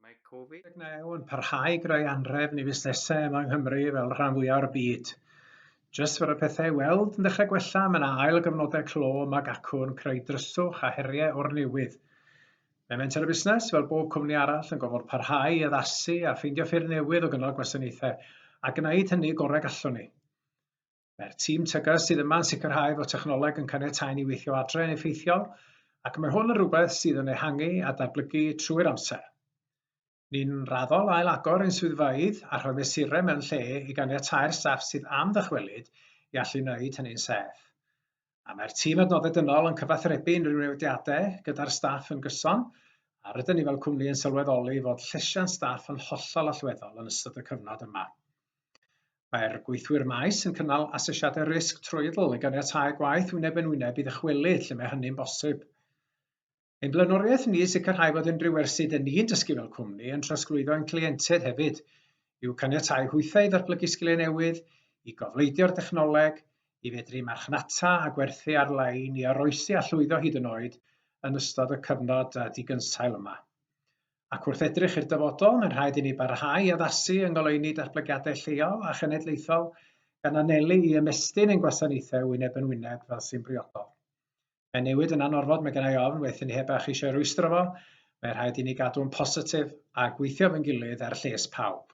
Mae Covid-19 yn parhau i greu anhrefn i fusnesau yma yng Nghymru fel rhan fwyaf o'r byd. Jyst fod y pethau i weld yn dechrau gwella, mae yna ail gyfnodau clo ym Mag Acwn, creu dryswch a heriau o'r newydd. Mae menter y busnes, fel bob cwmni arall, yn gofod parhau i addasu a ffeindio ffyrdd newydd o gynnal gwasanaethau, a gwneud hynny gorau gallwn ni. Mae'r tîm TGAS sydd yma yn sicrhau fod technoleg yn caniatáu ni weithio adre yn effeithiol, ac mae hwn yn rhywbeth sydd yn ehangu a datblygu trwy'r amser. Ni'n raddol ail-agor ein swyddfeydd a rhoi mesurau mewn lle i ganiatáu'r staff sydd am ddychwelyd i allu wneud hynny'n saff. A mae'r tîm adnoddau dynol yn cyfathrebu unrhyw newidiadau gyda'r staff yn gyson, a rydyn ni fel cwmni yn sylweddoli fod llesiant staff yn hollol allweddol yn ystod y cyfnod yma. Mae'r gweithwyr maes yn cynnal asesiadau risg trwyddl i ganiatáu gwaith wyneb yn wyneb i ddychwelyd lle mae hynny'n bosib. Ein blaenoriaeth ni yw sicrhau fod unrhyw wersi dŷn ni'n dysgu fel cwmni yn trosglwyddo ein cleientiaid hefyd, i'w caniatáu hwythau i ddatblygu sgiliau newydd, i gofleidio'r dechnoleg, i fedru marchnata a gwerthu ar-lein, i oroesi a llwyddo hyd yn oed yn ystod y cyfnod digynsail yma. Ac wrth edrych i'r dyfodol, mae'n rhaid i ni barhau i addasu yng ngoleuni datblygiadau lleol a chenedlaethol gan anelu i ymestyn ein gwasanaethau wyneb yn wyneb fel sy'n briodol. Mae newid yn anorfod, mae gennau ofn, waethyn ni heb eich eisiau rwystro fo. Mae rhaid i ni gadw'n positif a gweithio fy ngilydd er lles pawb.